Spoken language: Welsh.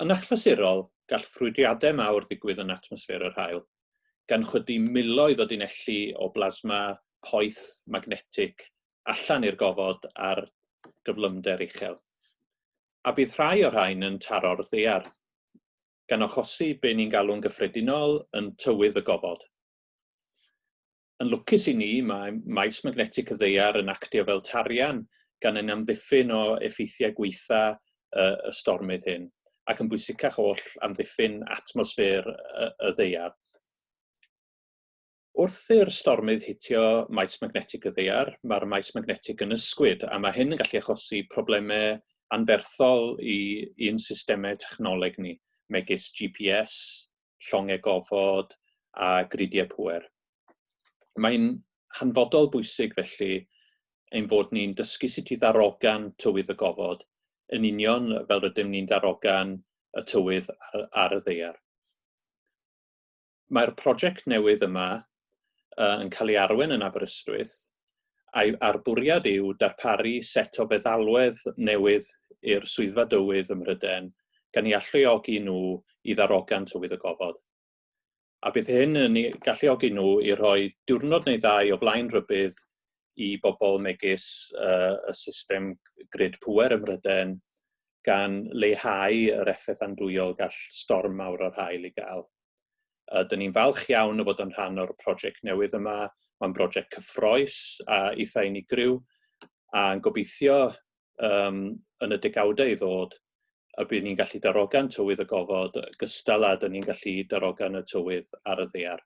Yn achlysurol, gall ffrwydriadau mawr ddigwydd yn atmosffer yr haul, gan chwydu miloedd o dunelli o blasma poeth magnetig allan i'r gofod ar gyflymder uchel. A bydd rhai o'r rhain yn taro'r ddaear, gan achosi be ni'n galw'n gyffredinol yn tywydd y gofod. Yn lwcus i ni, mae maes magnetig y Ddaear yn actio fel tarian gan ein amddiffyn o effeithiau gwaetha y y stormydd hyn, ac yn bwysicach oll, amddiffyn atmosffer y y Ddaear. Wrth i'r stormydd hitio maes magnetig y Ddaear, mae'r maes magnetig yn ysgwyd, a mae hyn yn gallu achosi problemau anferthol i i'n systemau technoleg ni, megis GPS, llongau gofod a gridiau pŵer. Mae'n hanfodol bwysig felly ein fod ni'n dysgu sut i ddarogan tywydd y gofod, yn union fel rydym ni'n darogan y tywydd ar, ar y ddeiar. Mae'r prosiect newydd yma uh, yn cael ei arwain yn Aberystwyth, a'i, a'r bwriad yw darparu set o feddalwedd newydd i'r swyddfa dywydd ym Mhrydain, gan i alluogi nhw i ddarogan tywydd y gofod. A bydd hyn yn ei galluogi nhw i roi diwrnod neu ddau o flaen rhybydd i bobl megis uh, y system grid pwer ym Mhrydain, gan leihau yr effaith andwyol gall storm mawr o'r hael i gael. Uh, Dyn ni'n falch iawn o fod yn rhan o'r prosiect newydd yma. Mae'n brosiect cyffroes a eitha unigryw a'n gobeithio um, yn y degawdau i ddod y bydd ni'n gallu darogan tywydd y gofod gystal a dyn ni'n gallu darogan y tywydd ar y ddear.